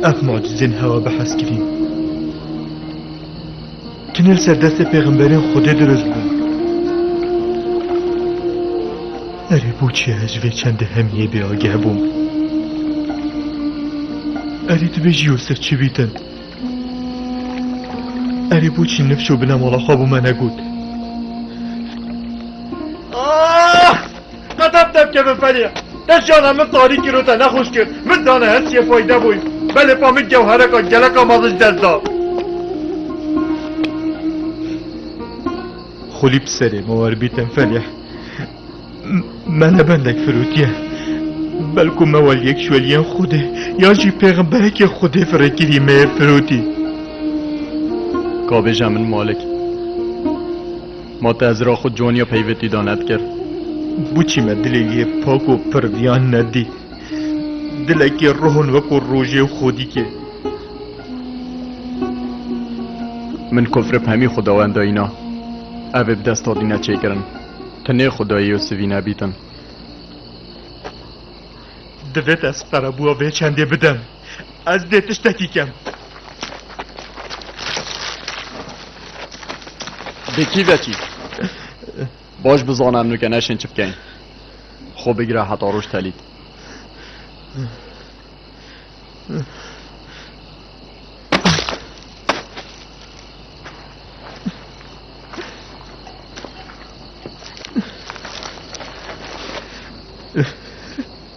Ev mucizên hewa bi hezkirîn. Tunel ser destê pêxemberên Xwedê dirust bûn. Erê boçî ez ji vê çendê hemiyê bêageh bûm. Erê tu bêjî Yûsif çi bîtin? Erê boçî nifş û binemala xwe bû me negot. Qedef derkeve ferê. Te jiyana min tarî kir û te nexweş kir. Min dane her çiyê fayde bûy. Belê pa min gewhereka geleka me li ji dest da. Xulî bi serê me werbî te ferê. Me ne bendek firûtiye. Belku me wal yek ji weliyên Xwedê ya jî pêxemberekê Xwedê firêkirî me yê firûtî. Ka bêje min malik. Ma te ezra xwe caniya peyvê tî da nedikir. Buçî me dilê lê pak û pir viyan nedî. Dilekê rohon weko rojê û xodîkê. Min kofrê pemî xudawenda îna evê bi desta dî ne çêkirin. Tu nê xudayê û sivî nebîtin. Divê te ez qerebûa vê çendê bidim. Ez dê tiştekî kem. Bi kî vekî? Baş bizana em nuke neşên çi bikeyn. Xwe bigire heta roj telît.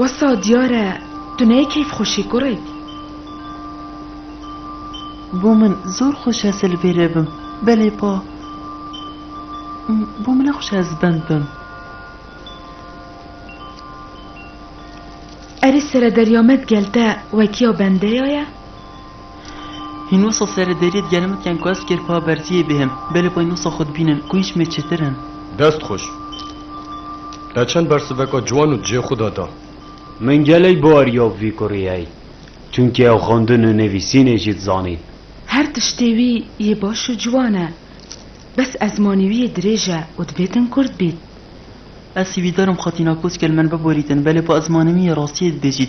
Wesa diyar e tu neyê keyfxweşî kurêk. Bo min zor xweş ez li vê re bim belê pa bo min ne xweş e ez bend bim. Erê sere derya me di gel te wekiya bendeya ye? Hîn wisa serê deriyê digel min kiyan ku ez kêrpa berziyê bêhim. Belê bay nûsa xwe dibînin ku hîç mê çêtir in. Dest xweş. Te çend bersiveka ciwan û cihê xwe de da. Min gelek bi ariya vî kurê heye. Çunkî ew xwendin û nivîsînê jî dizanî. Her tiştê wî yê baş û ciwan e. Bes ezmanî wî yê dirêj e û dibê din kurd bît. Ez hîvîdar im xwe tîna koçkel min biborîtin. Belê bi ezmanê min yê rastiyê dibêjît.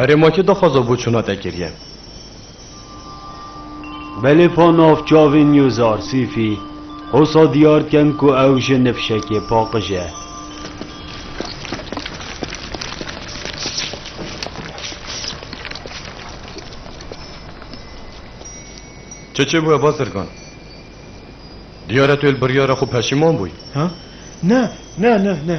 Erê ma kî daxwaza bo çûna te kiriye? Belêfa navçavê News Arsîfî hosa diyar dikin ku ew ji ni fişekê paqij e. Çi çêbûye Bazirgan? Diyar e tu li biryara xwe peşîman bûyî. Ha? Ne, ne, ne, ne.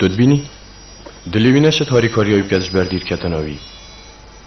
Tu dibînî? Dilê wî neşit harîkarîya wî bi kes ji ber dîr ketina wî.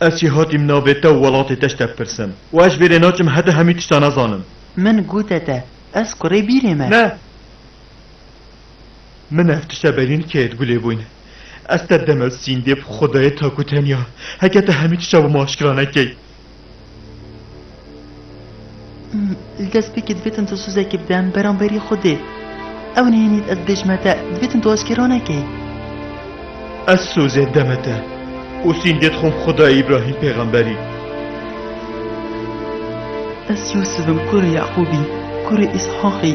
Ez jî hatîm navê te û welatê te ji te bipirsim. Û ez ji vê rê naçim heta hemî tişta nazanim. Min gote te, ez kurê bîrê me. Ne! Min ev tişta berîn kê di gulê bûn. Ez te demel sîndê bi xwedayê tak û tenya. Heke te hemî tişta bo min aşkira nekey. Li destpêkê divêtin tu suzekî bidem beramberî Xwedê. Ew nihênît ez bêj me te, divêtin tu aşkera nekî. Ez sozê deme te û sîngê dixwim Xwedayê Îbrahîm pêxemberî. Ez Yûsif im kurê Yeqûbî, kurê Îshaqî.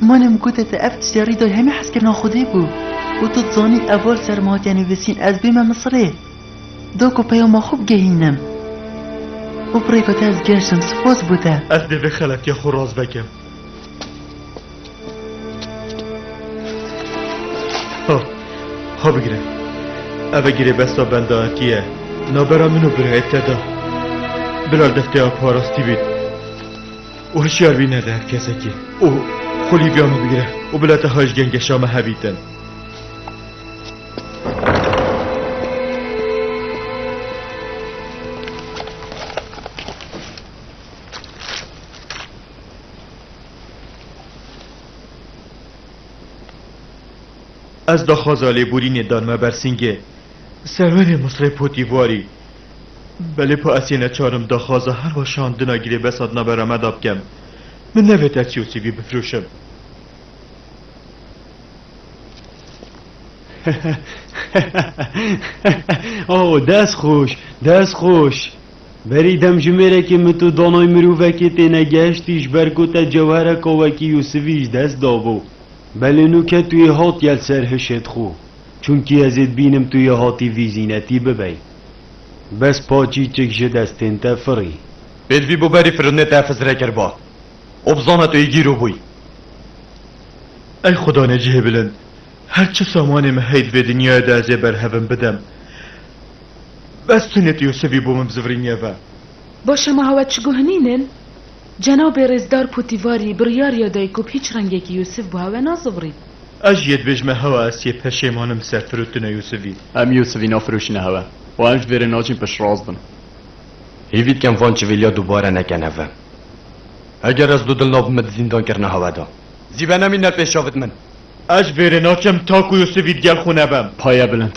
Min em gote te ev tiştê rîdayê hemî hezkirina xwedê bû û tu dizanî ev val ser min hatiye nivîsîn ez bême Misirê da ku peyama xwe bigehînim. Bo pirêka te ez gehştim spas bo te. Ez dê vê xeletiya xwe rast vekim. Ha, ha bigire. Ev e girêbesta bendayetiye. Nabera min û birayê te de. Bila li deftêya parastî bîn. û hişyar bî nede her kesekî û xulî biya min bigire û bila te haj gengeşa me hebîtin. Ez daxwaza lêborînê danme Bersîngê, serwerê Misrê Potîvarî. Belê pa ez yê neçar im daxwaza her weşandina girêbesa di navbera me de bikim. Min nevêt ez çî û çî bî bifirûşim. Oh, dest xweş, dest xweş. Berî demjimêrekê min tu danayî mirovekê têne gehiştî ji ber ku te cewhereka wekî Yûsivî ji dest dabû. Belê nû ketûyê hat yel ser hişê dixwe. Çunkî ez ê dibînim tu yê hatî vî zînetî bibey. Bes paçî çik ji destên te firî. Pêdivî bo berî firindê te Xizirê kiriba û bizana tu yê gîr û bûyî. Ey Xuda Necihê Bilind, her çi samanê min heye di vê dinyayê de ez ê berhevin bidem. Bes tu nê tu Yûsivî bo min bizivirînî eve. Baş e ma hewa çi guhinînin? Cenabê Rêzdar Pûtîvarî biryariya dayî ku bi hîç rengekî Yûsif bi hewe nazivirî. Ez jî yê dibêjme hewa ez yê peşêmanim ser firotina Yûsifî. Em Yûsifî nafiroşîne hewe û em ji vê re nacîn piştrast bin. Hêvî dikem van çivîlya dubare neke neve. Heger ez du dilna bime di zîndankirina hewe de. Zî be nemîne pêşa vit min. Ez ji vê re naçim ta ku Yûsifî digel xwe nebem. Payebilind,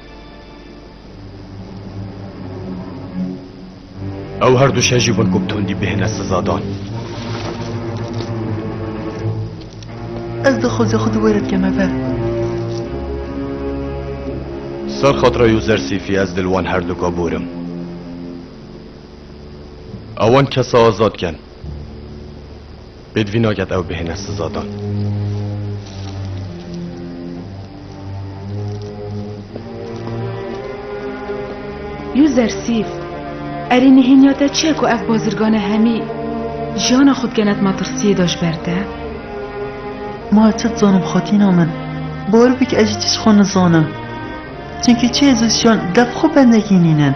Ew her du şejî wek û tundî bihêne sizadan. Ez dixwazê xwe di wê re dikeme ver. Ser xatira Yuzer Sîfî ez dil wan her duka bûrim. Ewan kesa azad ken. Pêdivî naket ew bihêne sizadan. Yû zersîf, erê nihêniya te çi ye ku ev bazirgane hemî jiyana xwe dikene di matirsiyê de ji ber te? Ma ez çi dizanim xatîna min. Bor bik ez jî tişt xwe nizanim. Çimkî çê ez û jiyan dev xwe bendekî nînin.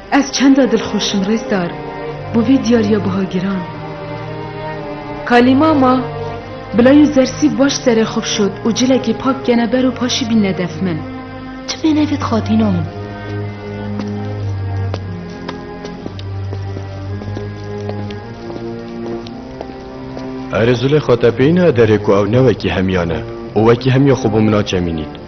Ez çenda dilxweş im Rêzdar bo vê diyariya biha giran. Kalîma ma bila yû zersî baş serê xwe bişot û cilekê pak kene ber û paşî bînne def min. Tu bêne vê dixatîna min. Erê Zûleyxa te bêyîna derê ku ew ne wekî hemiyan e û wekî hemiya xwe bo min a çemînît.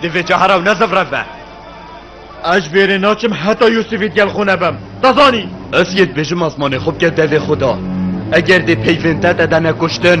Divê cahara ew nezivre be. Ez ji bêrê naçim heta Yûsifî digel xwe nebim. Te zanî? Ez yê dibêjim asmanê xwe bike devê xwe de. Eger dê peyvên te te de nekuştin,